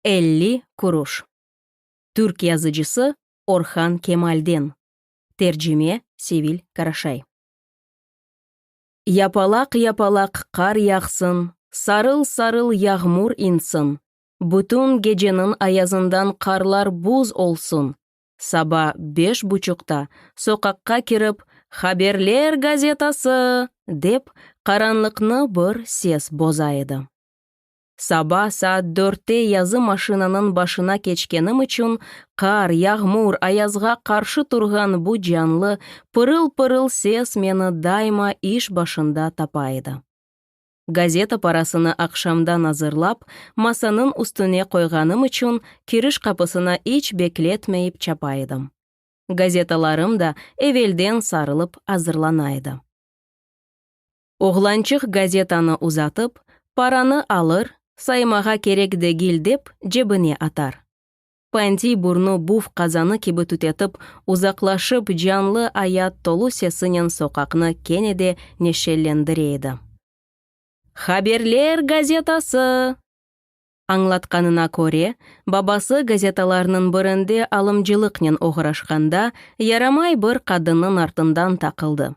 Elli kuruş. Türk yazıcısı Orhan Kemal'den, tercime, Sevil Karaşay. Yapalaq-yapalaq qar yağsın, sarıl-sarıl yağmur insin, bütün geceniñ ayazından qarlar buz olsun, saba beş buçuqta soqaqqa kirip, Haberler gazetası! dep, qaranlıqnı bir ses boza edi. Saba saat dörtte yazı maşinanıñ başına keçkenim içün, qar, yağmur, ayazğa qarşı turğan bu canlı, pırıl-pırıl ses meni daima iş başında tapa edi. Gazeta parasını aqşamdan azırlap, masanıñ üstüne qoyğanım içün, kiriş qapısına iç bekletmeyip çapa edim. Gazetalarım da evelden sarılıp azırlana edi. Oğlançıq gazetanı uzatıp, paranı alır, saymağa kerek degil dep, cebine atar. Pantiy burnu buf qazanı kibi tütetip, uzaqlaşıp, canlı ayat tolu sesinen soqaqnı kene de neşellendire edi. Haberler gazetası! Añlatqanına köre, babası gazetalarnıñ birinde alımcılıqnen oğraşqanda, yaramay bir qadınnıñ artından taqıldı.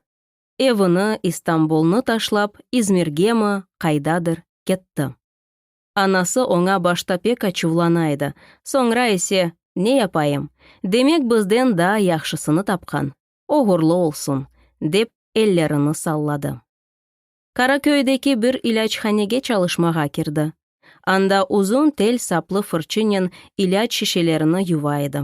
evini, İstanbulnı taşlap, İzmirgemi, qaydadır, ketti. Anası oña başta pek açuvlana edi, soñra ise, Ne yapayım, demek bizden daa yahşısını tapqan, oğurlı olsun, dep ellerini salladı. Karaköy'deki bir ilâchanege çalışmağa kirdi. Anda uzun tel saplı fırçınen ilâc şişelerini yuva edi.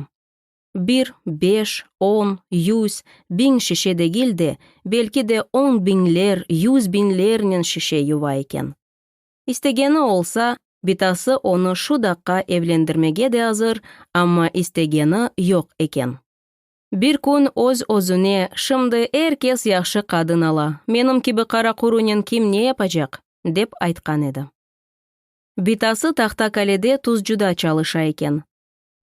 Bir, beş, on, yüz, biñ şişe degil de, belki de on biñler, yüz biñlernen şişe yuva eken. İstegeni olsa, bitası onı şu daqqa evlendirmege de azır, amma istegeni yoq eken. Bir kün öz-özüne, Şimdi er kes yahşı qadın ala, menim kibi qaraqurunen kim ne yapacaq? dep aytqan edi. Bitası Tahtakalede tuzcuda çalışa eken.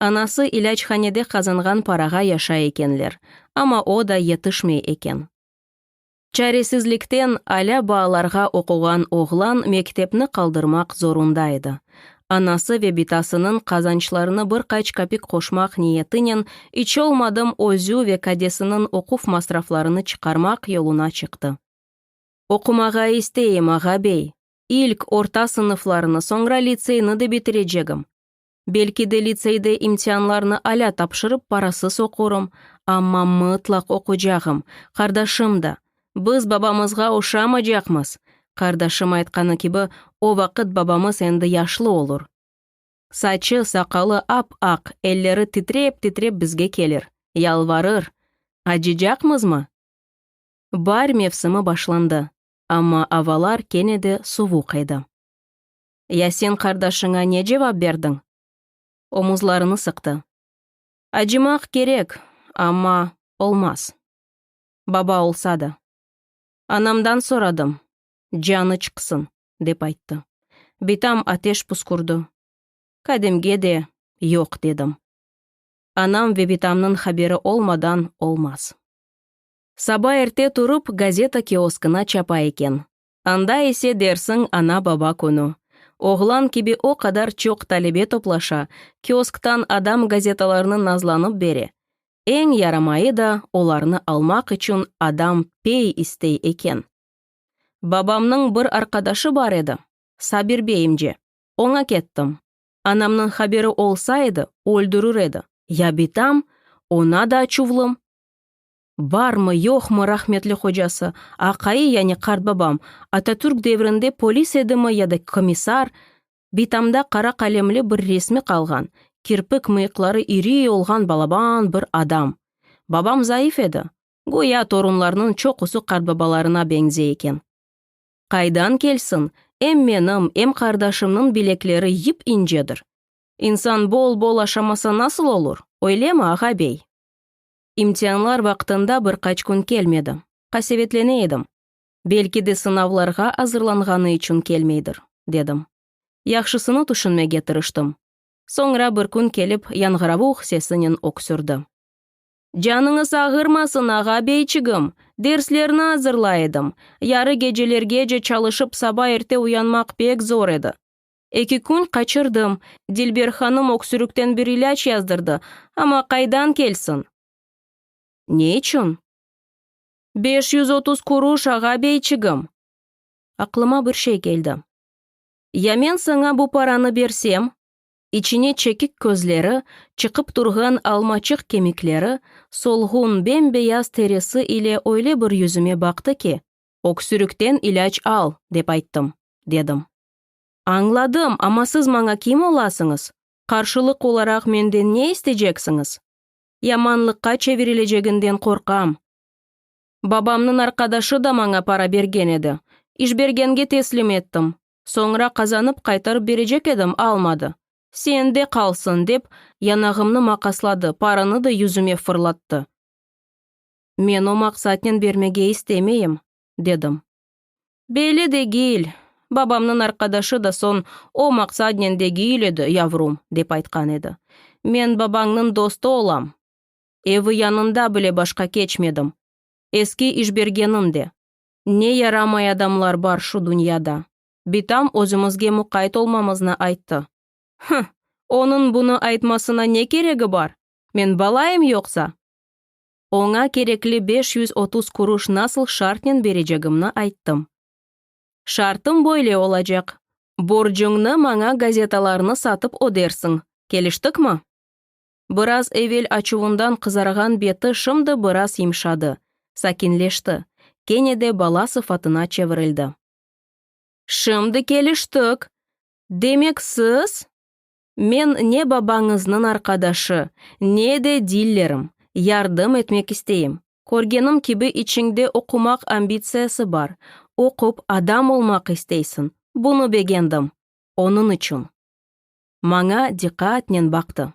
Anası ilâchanede qazanğan parağa yaşay ekenler, amma o da yetişmey eken. Çaresizlikten alâ baalarğa oquğan oğlan mektepni qaldırmaq zorunda edi. Anası ve bitasınıñ qazançlarına bir qaç kapik qoşmaq niyetinen iç olmadım özü ve kadesiniñ oquv masraflarını çıqarmaq yoluna çıqtı. Oqumağa isteyim, ağa-bey. İlk orta sınıflarnı, soñra litseyni de bitirecegim. Belki de litseyde imtianlarnı alâ tapşırıp parasız oqurım, amma mıtlaq oqucağım, qardaşım da. Biz babamızğa oşamacaqmız! Qardaşım aytqanı kibi, o vaqıt babamız endi yaşlı olur. Saçı, saqalı ap-aq, elleri titrep-titrep bizge kelir, yalvarır, Acıcaqmızmı? Baar mevsimi başlandı, amma avalar kene de suvuq edi. Ya sen qardaşıña ne cevap berdiñ? Omuzlarını sıqtı. Acımaq kerek, amma olmaz. Baba olsa da. Anamdan soradım, canı çıqsın, dep ayttı. Bitam ateş püskürdi. Kademge de yoq dedim. Anam ve bitamnıñ haberi olmadan olmaz. Saba erte turıp, gazeta kioskına çapa eken. Anda ise dersiñ ana-baba künü. Oğlan kibi o qadar çoq talebe toplaşa, kiosktan adam gazetalarnı nazlanıp bere. Eñ yaramayı da olarnı almaq içün adam pey istey eken. Babamnıñ bir arqadaşı bar edi, Sabir bey imce. Oña kettim. Anamnıñ haberi olsa edi, öldürür edi. Ya bitam, oña da çuvlım. Barmı, yoqmı rahmetli qocası, aqayı, yani qartbabam, Atatürk devrinde polis edimi ya da komissar, bitamda qara qalemli bir resmi qalğan, kirpik mıyıqları iriy olğan balaban bir adam. Babam zayıf edi. Güya torunlarnıñ çoqusı qartbabalarına beñzey eken. Qaydan kelsin, em menim, em qardaşımnıñ bilekleri yıp incedir. İnsan bol-bol aşamasa nasıl olur, öylemi, ağa-bey? İmtianlar vaqtında bir qaç kün kelmedi. Qasevetlene edim. Belki de sınavlarğa azırlanğanı içün kelmeydir, dedim. Yahşısını tüşünmege tırıştım. Soñra bir kün kelip yanğıravuq sesinen öksürdi. Canıñız ağırmasın, ağa-beyçigim! Derslerni azırlay edim. Yarı gecelergece çalışıp saba erte uyanmaq pek zor edi. Eki kün qaçırdım. Dilber hanım öksürükten bir ilâc yazdırdı, amma qaydan kelsin? Ne içün? Beş yüz otuz kuruş, ağa beyçigim! Aqlıma bir şey keldi. Ya men saña bu paranı bersem? İçine çekik közleri, çıqıp turğan almaçıq kemikleri, solğun, bem-beyaz terisi ile öyle bir yüzüme baqtı ki, Öksürükten ilâc al, dep ayttım, dedim. Añladım, amma siz maña kim olasıñız? Qarşılıq olaraq menden ne isteceksiñiz? Yamanlıqqa çevirileceginden qorqam. Babamnıñ arqadaşı da maña para bergen edi. İşbergenge teslim ettim. Soñra qazanıp qaytarıp berecek edim, almadı. Sende qalsın, dep, yanağımnı maqasladı, paranı da yüzüme fırlattı. Men o maqsatnen bermege istemeyim, dedim. Belli degil. Babamnıñ arqadaşı da soñ, O maqsadnen degil edi, yavrum, dep aytqan edi. Men babañnıñ dostu olam. Evi yanında bile başqa keçmedim. Eski işbergenim de. Ne yaramay adamlar bar şu dünyada. Bitam özümizge muqayt olmamıznı ayttı. Hıh! Onıñ bunı aytmasına ne keregi bar? Men balayım yoqsa? oña kerekli beş yüz otuz kuruş nasıl şartnen berecegimni ayttım. Şartım böyle olacaq, borcuñnı maña gazetalarnı satıp ödersiñ, keliştikmi? Biraz evel açuvından qızarğan beti şimdi biraz yımşadı, sakinleşti, kene de bala sıfatına çevirildi. Şimdi keliştik! Demek, siz? Men ne babañıznıñ arqadaşı, ne de dillerim, yardım etmek isteyim. Körgenim kibi içiñde oqumaq ambitsiyası bar, oqup adam olmaq isteysiñ, bunı begendim, onıñ içün. Maña diqqatnen baqtı.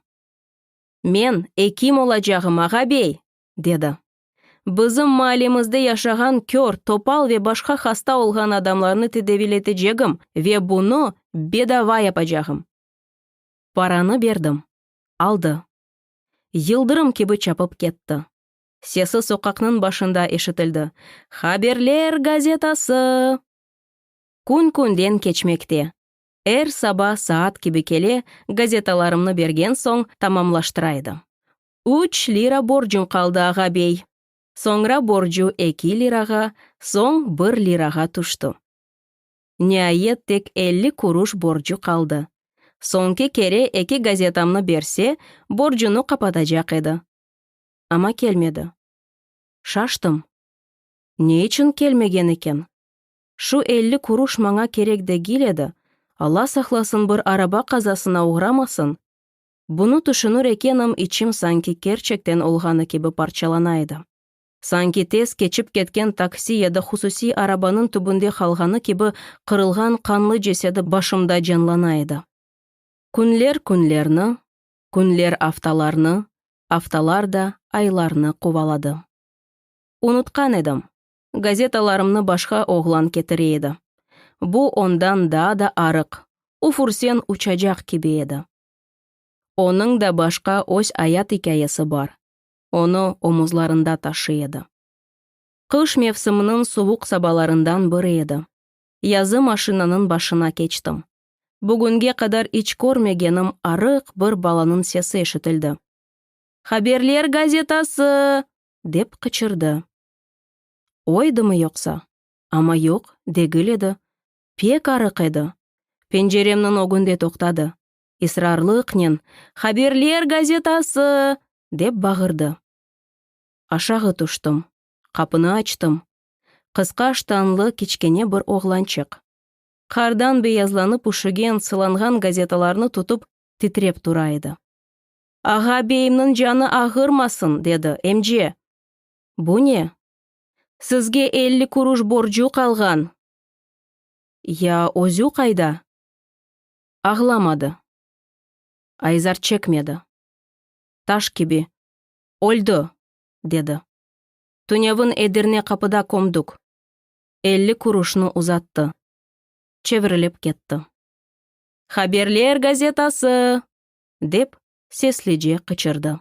Men ekim olacağım, ağa-bey! dedi. Bizim maallemizde yaşağan kör, topal ve başqa hasta olğan adamlarnı tedaviyletecegim ve bunı bedava yapacağım. Paranı berdim. Aldı. Yıldırım kibi çapıp ketti. Sesi soqaqnıñ başında eşitildi, Haberler gazetası! Kün-künden keçmekte. Er saba saat kibi kele, gazetalarımnı bergen soñ tamamlaştıra edim. üç lira borcuñ qaldı, ağa-bey. Soñra borcu eki lirağa, soñ bir lirağa tüşti. Niayet tek elli kuruş borcu qaldı. Soñki kere eki gazetamnı berse, borcunı qapatacaq edi. Amma kelmedi. Şaştım. Ne içün kelmegen eken? Şu elli kuruş maña kerek degil edi, Alla saqlasın bir araba qazasına oğramasın! Bunı tüşünür ekenim, içim sanki kerçekten olğanı kibi parçalana edi. Sanki tez keçip ketken taksi ya da hususiy arabanıñ tübünde qalğanı kibi qırılğan qanlı cesedi başımda canlana edi. Künler künlerni, künler aftalarnı, aftalar da aylarnı quvaladı. Unutqan edim, gazetalarımnı başqa oğlan ketire edi. Bu ondan daa da arıq, ufursen uçacaq kibi edi. Onıñ da başqa öz ayat ikâyesi bar, onı omuzlarında taşıy edi. Qış mevsiminiñ suvuq sabalarından biri edi. Yazı maşinanıñ başına keçtim. Bugünge qadar iç körmegenim arıq bir balanıñ sesi eşitildi. Haberler gazetası! dep qıçırdı. Oydımı yoqsa? Amma yoq, degil edi. pek arıq edi. Penceremniñ ögünde toqtadı. Israrlıqnen, Haberler gazetası! dep bağırdı. Aşağı tüştim. Qapını açtım. Qısqa ştanlı kiçkene bir oğlançıq. Qardan beyazlanıp üşügen, sılanğan gazetalarnı tutıp, titrep tura edi. Ağa beyimniñ canı ağırmasın, dedi, emce! Bu ne? Sizge elli kuruş borcu qalğan! Ya özü qayda? Ağlamadı. Ayzar çekmedi. Taş kibi, Öldi! dedi. Tünevin Edirne qapıda kömdük. Elli kuruşnı uzattı. Çevirilip ketti. Haberler gazetası! dep seslice qıçırdı.